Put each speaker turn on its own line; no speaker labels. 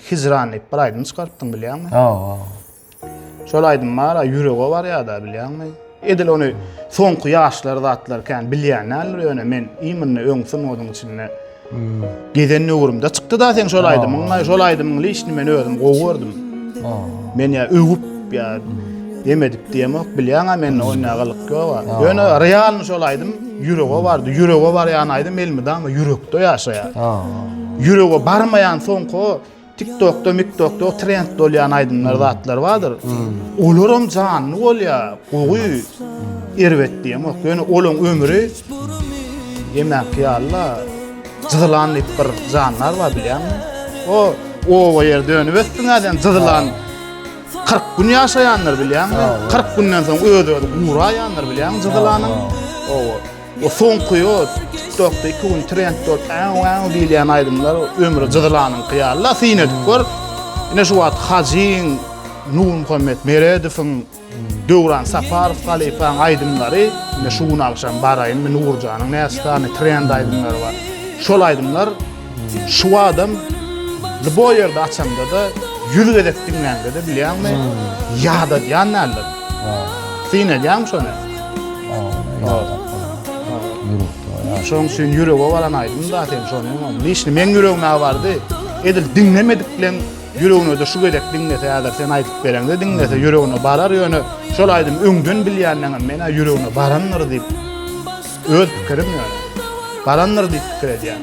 Hijran diýip bir aýdym çykarypdym bilýäňmi? Hawa. Şol aýdym bar, ýürege barýar-da bilýäňmi? Edil ony soňky ýaşlar zatlar kän bilýän däldir ýöne men imini öň sungatyň içinde gezen döwrümde çykdy-da seň şol aýdymyň, şol aýdymyň lyşny men özüm gowy gördüm. Men ýa öwüp ýa Emedik diýemok, bilýäň-ä mende oýna gylyk ýog-a. Ýöne realny şol aýdym ýürege bardy. Ýürege barýan aýdym elmydama ýürekde ýaşaýar. Ýürege barmaýan soňky o TikTokda, MikTokda trend bolýan aýdymlar, zatlar bardyr. Olaram janly bolýar, gowy. Erbet diýemok. Ýöne olaň ömri emäki ýaly-la. Jyzylan diýip bir jandar bar, bilýäňmi? O oba ýer dönüp ötdüň-ä sen, jyzylan. 40 gün ýaşaýanlar bilýäňmi? 40 günden soň öz-özü guraýanlar bilýäňmi jydylanyň? Owa. O soňky o TikTokda 2 gün trend bolup, aw aw diýilýän aýdymlar ömri jydylanyňky ýaly-la syn edip gör. Ine şu wagt Hajyň, Nurmuhammet Meredowyň, Döwran Saparow halypaň aýdymlary, ine şu gün agşam baraýyn, Nurjanyň näçe sany trend aýdymlary bar. Şol aýdymlar Şu adam Lbo ýerde açamda-da, ýüz gezek diňläňde-de bilýäňmi, ýadadýan däldir. Syn edýäňmi şony? Şoň üçin ýürege baran aýdym-da sen şony. Lişni meň ýüregime bardy. Edil diňlemedik bilen ýüregine-de şu gezek diňlese, häzir sen aýdyp bereňde diňlese, ýüregine barar ýöne şol aýdym öňden bilýänden hem men-ä ýüregine barandyr diýip, öz pikirim ýöne. Barandyr diýip pikir edýän.